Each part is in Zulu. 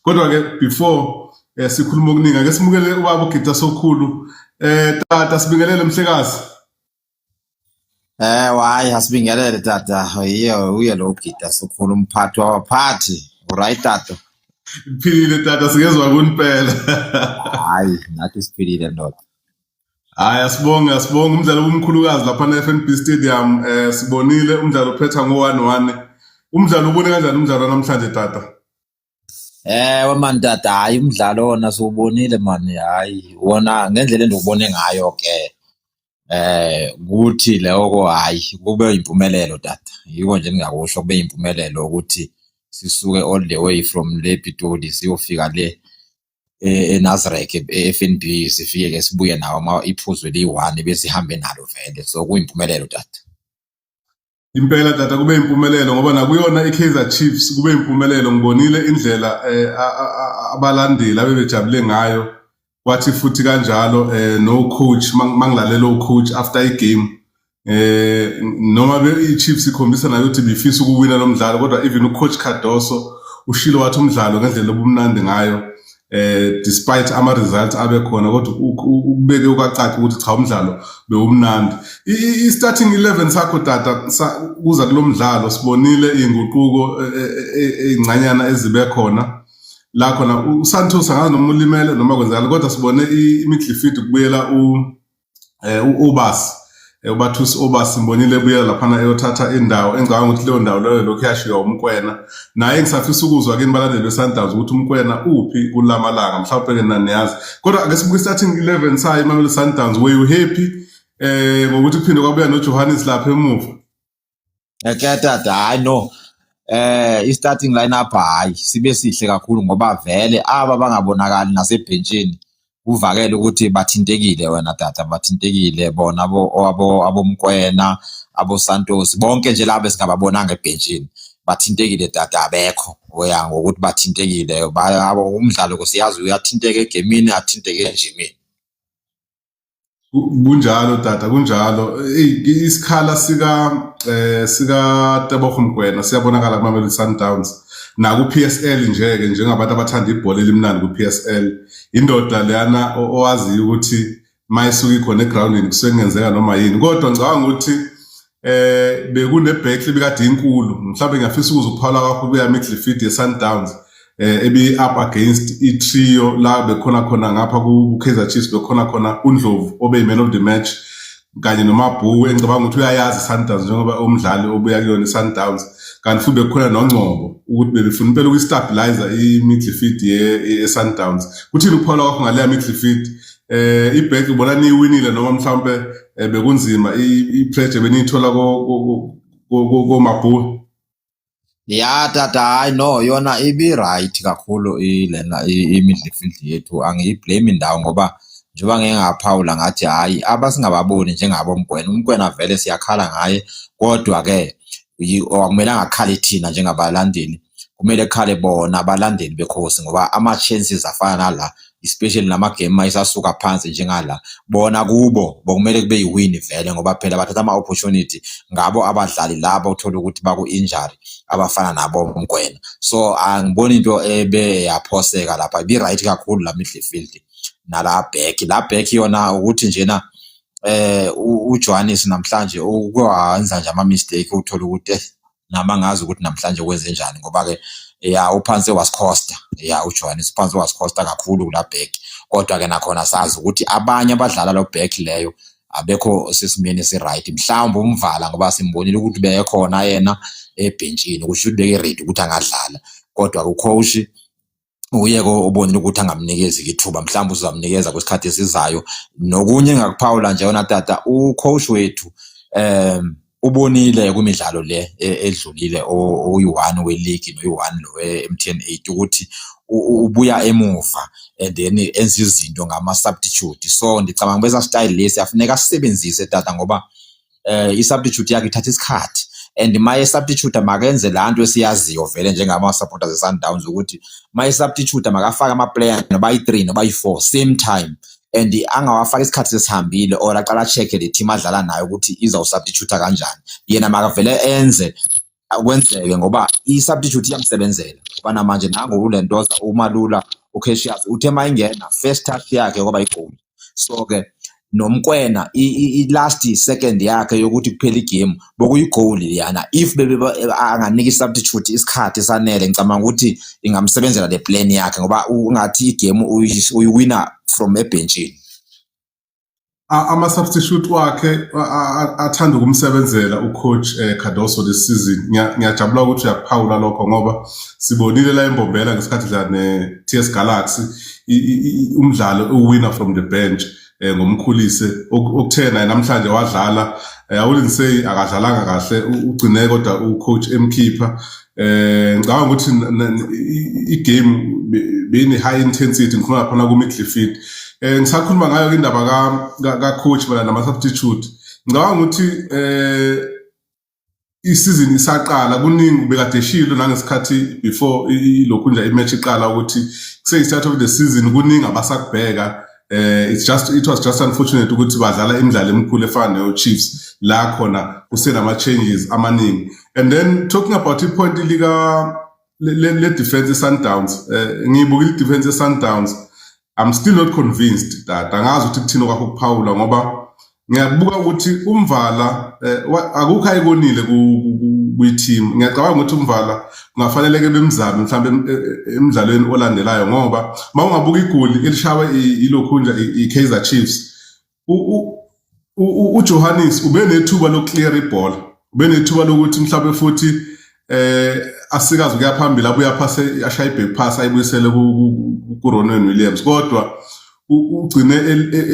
kodwa ke before eh, sikhuluma okuningi ake simukele ubaba ugida sokhulu eh tata sibingelele mhlekazi eh wayi asibingelele tata yiye uye lo ugida sokhulu umphathi wabaphathi right tata philile tata sikezwa kunipela hayi nathi siphilile ndoda Hayi asibonge asibonge umdlalo omkhulukazi lapha ne-FNB Stadium eh sibonile umdlalo uphetha ngo-1-1 umdlalo ubone kanjani umdlalo namhlanje tata Eh man tata hayi umdlalo wona siwubonile man hayi wona ngendlela endiwubone ngayo ke eh kuthi loko hayi kube impumelelo tata yiko nje ningakusho kube impumelelo ukuthi sisuke all the way from le Pitoli siyofika le e-, eNasrec eFNB sifike ke sibuye nawo uma iphuzu eliyi-1 besihambe nalo vele so kuyimpumelelo tata impela tata kube impumelelo ngoba nakuyona i-Kaizer Chiefs kube impumelelo ngibonile indlela eh, abalandeli abebejabule ngayo wathi futhi kanjalo eh, no coach mangilalela ucoach after i-game eh noma be iChiefs ikhombisa nayo ukuthi bifisa ukuwina lo mdlalo kodwa even ucoach Cardoso ushilo wathi umdlalo ngendlela obumnandi ngayo eh despite ama results abe khona kodwa ukubeke ukacaca ukuthi cha umdlalo bewumnandi i starting 11 sakho tata kuza kulomdlalo sibonile inguquko e, e, e, ezincanyana ezibe khona la khona uSantos angazi noma ulimele noma kwenzakala kodwa sibone imidlifidi kubuyela u eh uObas eh, ubathusi obas mbonile ebuya laphana eyothatha indawo engicabanga ukuthi leyo ndawo leyo lokhu yashiywa umkwena naye ngisafisa ukuzwa kini balandeli besundowns ukuthi umkwena uphi kulamalanga mhlawumbe-ke naniyazi kodwa ake sibuke starting 11 sayo imamelodi sundowns were you happy eh ngokuthi kuphinde kwabuya nojohannes lapha emuva Eketata hayi no eh i-starting lineup hayi sibe sihle kakhulu ngoba vele aba bangabonakali nasebhentshini kuvakele ukuthi bathintekile wena tata bathintekile bona abo abo abomkwena abo Santos bonke nje labo esingababonanga ebhentshini bathintekile tata abekho oya ngokuthi bathintekile umdlalo kusiyazi uyathinteka egemini athinteke ejimini kunjalo tata kunjalo isikhala sika eh sika Tebogo Mgwena siyabonakala kuma Mamelodi Sundowns naku PSL nje ke njengabantu abathanda ibhola elimnandi ku PSL indoda leyana owaziyo ukuthi mayisuka ikhona egroundini kusengenzeka noma yini kodwa ngicabanga ukuthi eh bekune back ebikade inkulu mhlawumbe ngiyafisa ukuza ukuphala kwakho kuya midfield ye Sundowns eh ebi up against i trio la bekhona khona ngapha ku Kaizer Chiefs bekhona khona uNdlovu obe man of the match kanye nomabhuku engicabanga ukuthi uyayazi Sundowns njengoba umdlali obuya kuyona Sundowns kanti futhi bekhona nongcobo ukuthi bebefuna impela ukustabilizer i midfield ye Sundowns kuthini ukuphala kwakho ngale midfield eh iback ubona niwinile noma mhlawumbe eh, bekunzima i-pleasure beniyithola komabhulu ya tata hayi no yona ibi-right kakhulu ilena imidlifidli yethu angiyiblame ndawo ngoba njengoba ngeke ngaphawula ngathi hhayi abasingababoni njengabo mgwena umgwena vele siyakhala ngaye kodwa-ke akumele angakhali thina njengabalandeli kumele khale bona abalandeli bekhosi ngoba ama chances afana nala especially nama game isasuka phansi njengala bona kubo bokumele kube yiwin vele ngoba phela bathatha ama opportunity ngabo abadlali labo uthola ukuthi baku injury abafana nabo mgwena so angiboni into ebe yaphoseka lapha bi right kakhulu la midfield nala back la back yona ukuthi njena eh uJohannes namhlanje ukwenza nje ama mistake uthola ukuthi nami angazi ukuthi namhlanje kwenzenjani ngoba-ke ya uphansi wasikhosta ya ujohanis uphansi wasikhosta kakhulu kula bheki kodwa-ke nakhona sazi ukuthi abanye abadlala lo bheki leyo abekho sesimeni esi-right mhlawumbe umvala ngoba simbonile ukuthi beyekhona yena ebhentshini kusho ukuthi beke-ready ukuthi angadlala kodwa kucoach uyeke obonile ukuthi angamnikezi ithuba mhlawumbe uzamnikeza kwesikhathi esizayo nokunye engakuphawula nje yona tata ucoach wethu um ubonile kwimidlalo le e, edlulile oyi-one weligi noyi-one lo we-m t n eight ukuthi ubuya emuva and then enza izinto ngama-substitute so ndicabanga uba esa style lesi afuneka asisebenzise tata ngoba eh i-substitute yakhe ithatha isikhathi and maye substitute makenze lanto esiyaziyo vele njengama supporters eSundowns ukuthi maye substitute makafaka ama player noba i3 noba i4 same time and angawafaka isikhathi sesihambile or aqala check le team adlala nayo ukuthi izawusubstitute kanjani yena makavele enze kwenzeke ngoba i-substitute iyamsebenzela ngoba namanje nango ulentoza umalula ucasius uthe ma ingena first touch yakhe kwaba igoli so-ke nomkwena i-last second yakhe yokuthi kuphela igame bokuyigoli liyana if anganika i-substitute isikhathi sanele ngicabanga ukuthi ingamsebenzela le plan yakhe ngoba ungathi igame uyiwina from ebhentshini ama substitute wakhe athanda ukumsebenzela ucoach eh, Cardoso this season ngiyajabula ukuthi uyaphawula lokho ngoba sibonile la embombela ngesikhathi dla ne TS Galaxy umdlalo uwinner from the bench eh, ngomkhulise okuthena namhlanje wadlala eh, awulinsey akadlalanga kahle ugcine kodwa ucoach emkhipha eh ngicabanga ukuthi i-game beyine high intensity ngikhuluma khona ku midfield eh ngisakhuluma ngayo indaba ka ka coach bala nama substitute ngicabanga ukuthi eh isizini isaqala kuningi bekade shilo nangesikhathi before lokhu nje imatch iqala ukuthi kuseyistart of the season kuningi abasakubheka eh it's just it was just unfortunate ukuthi badlala imidlalo emikhulu efana neyo Chiefs la khona kusenama changes amaningi and then talking about ipoint lika le, le defense yeSundowns eh ngiyibuka i defense yeSundowns I'm still not convinced that angazi ukuthi kuthini kwakho kuphawula ngoba ngiyabuka ukuthi umvala eh, akukho ayikonile kwi-team ngiyacabanga ukuthi umvala kungafaneleke bemzame mhlawumbe e, e, emdlalweni olandelayo ngoba uma ungabuka igoli elishawe ilokhunja i-kaizer chiefs ujohannes ube nethuba lokuklear ibhola ube nethuba lokuthi mhlawumbe futhi eh asikazi ukuya phambili abuya phase ashaya iback pass ayibuyisele ku Ronwen Williams kodwa ugcine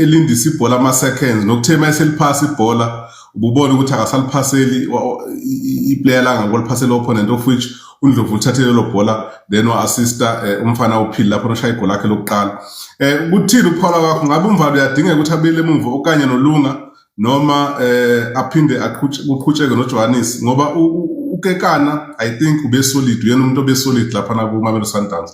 elindisa ibhola ama seconds nokuthema eseliphasa ibhola ububona ukuthi akasaliphaseli iplayer langa ngoliphasela opponent of which uNdlovu uthathele lo bhola then wa assista eh, umfana uphili lapho noshaya igoli lakhe lokuqala eh kuthini ukuphawula kwakho ngabe umvalo uyadingeka ukuthi abele emuva okanye nolunga noma eh aphinde kuqhutsheke noJohannes ngoba ukekana i think ube solid uyena umuntu obe solid lapha na ku Mamelodi Sundowns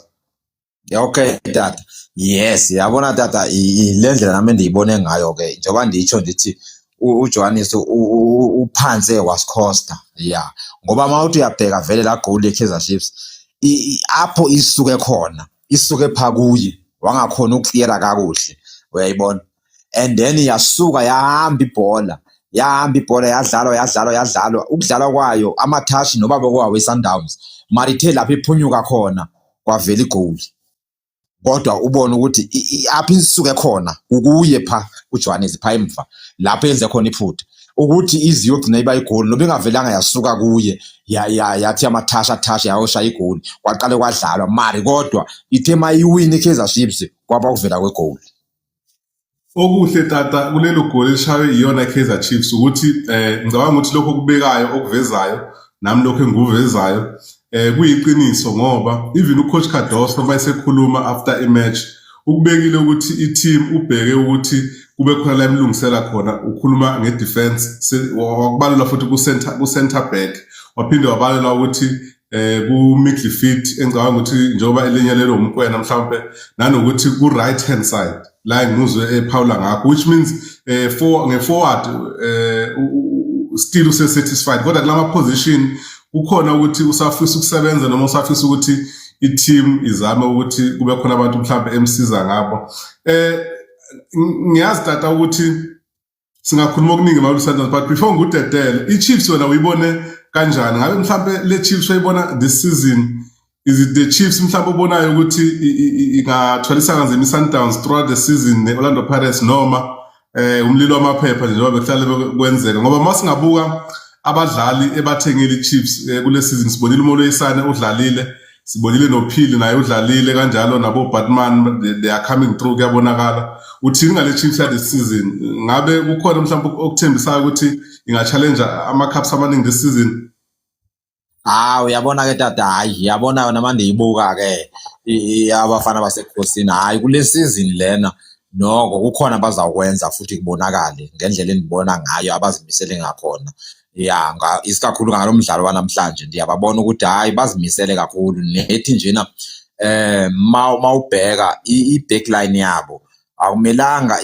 okay tata yes yabona tata le ndlela nami ndiyibone ngayo ke njengoba nditsho ndithi uJohannes uphanse wasikhosta yeah ngoba mawuthi uyabheka vele la goal yeKaizer Chiefs apho isuke khona isuke pha kuye wangakhona ukukliyera kakuhle uyayibona and then yasuka yahamba ibhola yahamba ibhola yadlalwa yadlalwa yadlalwa ukudlalwa kwayo amathashi noba bekwawo isundowns marithe lapho iphunyuka khona kwavela igoli kodwa ubone ukuthi i- i- apho isuke khona kukuye pha kujohannes pha emva lapho yenze khona iphutha ukuthi ize iyogcina iba igoli noba ingavelanga yasuka kuye ya- ya- yathi amathasha thasha yayoshaya igoli kwaqale kwadlalwa mari kodwa ithe mayiwini i-kaizer chiefs kwaba ukuvela kwegoli Okuhle tata kulelo goli elishaywe iyona Kaizer Chiefs ukuthi eh ngicabanga ukuthi lokho kubekayo okuvezayo nami lokho engikuvezayo eh kuyiqiniso ngoba even ucoach Cardoso uma esekhuluma after a match ukubekile ukuthi i-team ubheke ukuthi kube khona la emlungisela khona ukhuluma nge-defense wakubalula futhi ku-center back waphinde wabalula ukuthi eh ku midfield engicabanga ukuthi njengoba elinyalelwe umkwena mhlawumbe nanokuthi ku right hand side la ngizwe ephawula ngakho which means eh for nge forward eh still use satisfied kodwa kulama position kukhona ukuthi usafisa ukusebenza noma usafisa ukuthi i-team izame ukuthi kube khona abantu mhlawumbe emsiza ngabo eh ngiyazi tata ukuthi singakhuluma okuningi Malu Sanders but before ngudedele iChiefs wena uyibone kanjani ngabe mhlambe le Chiefs uyibona this season is it the Chiefs mhlawumbe obonayo ukuthi ingathwalisa kanzima iSundowns throughout the season neOrlando Pirates noma eh umlilo wamaphepha njengoba bekuhlale kwenzeka ngoba uma singabuka abadlali ebathengile iChiefs eh, kule season sibonile uMolwe Isane udlalile sibonile nophili naye udlalile kanjalo nabo batman they are coming through kuyabonakala uthini ngale chief this season ngabe kukhona mhlawumbe okuthembisayo ukuthi ingachallenge ama-cups amaningi this season hawu uyabona ke tata hayi yabona yona manje ibuka ke abafana basekhosini hayi kule season lena noko kukhona abazawukwenza futhi kubonakale ngendlela endibona ngayo abazimisele ngakhona ya nga isikakhulu ngalo mdlalo wanamhlanje ndiyababona ukuthi hayi bazimisele kakhulu nethi njena eh ma mawubheka i-backline yabo akumelanga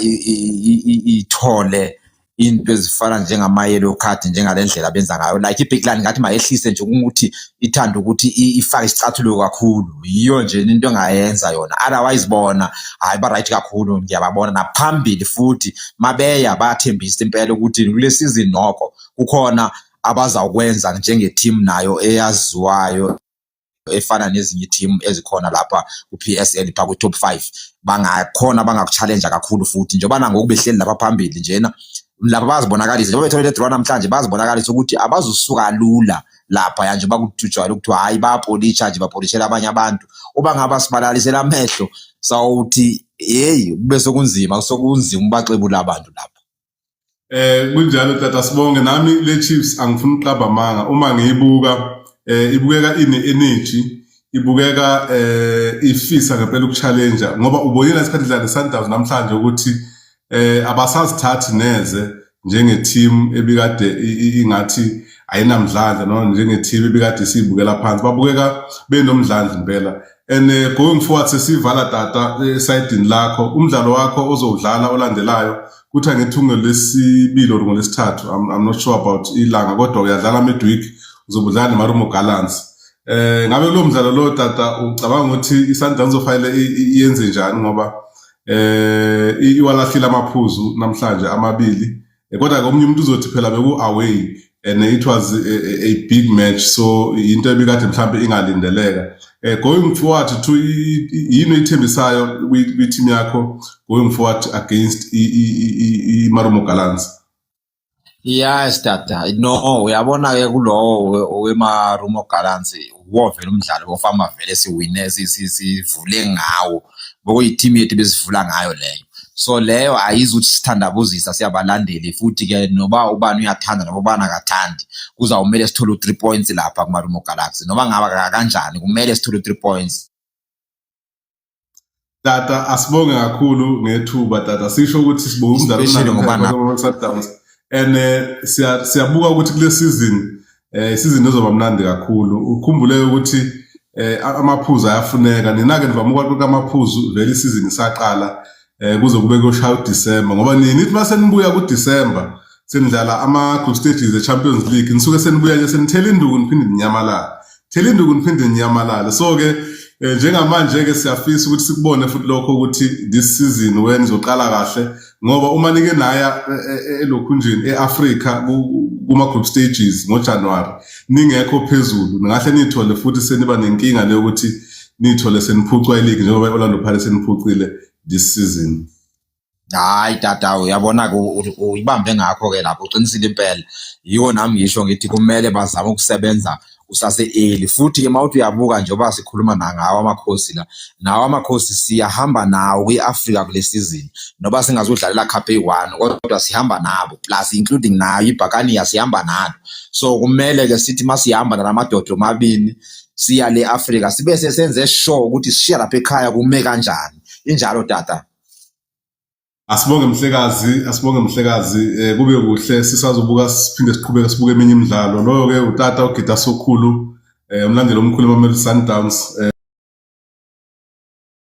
ithole into ezifana njengama-yellow card njengalendlela benza ngayo like i-backline ngathi mayehlise nje ukuthi ithanda ukuthi ifake isicathulo kakhulu yiyo nje into engayenza yona otherwise bona hayi ba right kakhulu ngiyababona naphambili futhi mabeya bathembisa impela ukuthi kule season noko kukhona abazawukwenza njenge team nayo eyaziwayo efana nezinye team ezikhona lapha ku PSL pha ku top 5 bangakhona bangakuchallenge kakhulu futhi njengoba nangoku behleli lapha phambili njena laba bazibonakalise njengoba bethole le draw namhlanje bazibonakalise ukuthi abazusuka lula lapha yanje bakujwayele ukuthiwa hayi bayapolisha nje bapolishela abanye abantu uba ngaba sibalalisela amehlo sawuthi yeyi kube sokunzima sokunzima ubaxebula abantu lapha eh kunjalo tata sibonge nami le chiefs angifuni uqaba manga uma ngiyibuka eh ibukeka ine energy ibukeka eh ifisa ngempela ukuchallenge ngoba ubonile isikhathi dlala Sundowns namhlanje ukuthi eh abasazithathi neze njenge team ebikade ingathi ayinamdlandla no njenge team ebikade sibukela phansi babukeka benomdlandla impela and eh, going forward sesivala tata eh, esayidini lakho umdlalo wakho ozowudlala olandelayo kuthi angithunge lesibili or ngolesithathu I'm, not sure about ilanga kodwa uyadlala midweek uzobudlala nemarumo gallants eh ngabe lo mdlalo lo tata ucabanga ukuthi isundowns ofanele yenze njani ngoba eh iwalahlile amaphuzu namhlanje amabili eh, kodwa ke omunye umuntu uzothi phela beku away and it was a, a, a big match so into ebikade mhlambe ingalindeleka eh going forward to yini ithembisayo kwi team yakho going forward against i Marumo Gallants Yes tata no uyabona ke kulowo wema rumo gallants wovela umdlalo wofama vele siwine sivule ngawo ngokuyi-team yethu besivula ngayo leyo so leyo ayizi ukuthi sithandabuzisa siyabalandeli futhi ke noba ubani uyathanda noba ubani akathandi kuzawumele sithole u-three points lapha kumarumo galaxy noba ngaba kanjani kumele sithole u-three points Tata asibonge kakhulu ngethuba tata sisho ukuthi sibonga umdlalo Especially ngoba na- ngoba Sundowns and eh, siya- siyabuka ukuthi kule season eh season ezoba mnandi kakhulu ukhumbule ukuthi eh a- amaphuzu ayafuneka nina ke nivama ukwaqoqa amaphuzu vele isizini isaqala eh kuze kube kuyoshaya uDecember ngoba nini nithi mase nibuya kuDecember senidlala ama group stages eChampions League nisuke senibuya nje senithela induku niphinde ninyamalale thela induku niphinde ninyamalale so ke eh, njengamanje ke siyafisa ukuthi sikubone futhi lokho ukuthi this season when izoqala kahle ngoba uma nike naya eh, eh, elokhunjini eAfrica kuma group stages ngoJanuary ningekho phezulu ningahle nithole futhi seniba nenkinga leyokuthi nithole seniphucwa iligi njengoba i-orlando pirates seniphucile this season hayi tata uyabona-ke uyibambe ngakho-ke lapho uqinisile impela yiwo nami ngisho ngithi kumele bazame ukusebenza usase-eli futhi-ke uma uthi uyabuka njengoba sikhuluma nangawo amakhosi la nawo amakhosi siyahamba nawo kwi-afrika kule sizini noba singazudlalela cup eyi-one kodwa sihamba nabo plus including nayo ibhakaniya sihamba nalo so kumele-ke sithi uma sihamba nalamadoda omabili siya le Africa sibe sesenze sure ukuthi sishiya lapha ekhaya kume kanjani injalo tata Asibonge mhlekazi, asibonge mhlekazi, eh kube kuhle sisazobuka siphinde siqhubeke sibuke eminye imidlalo. Loyo ke utata ogida sokhulu, eh umlandeli omkhulu eMamelodi Sundowns. Eh,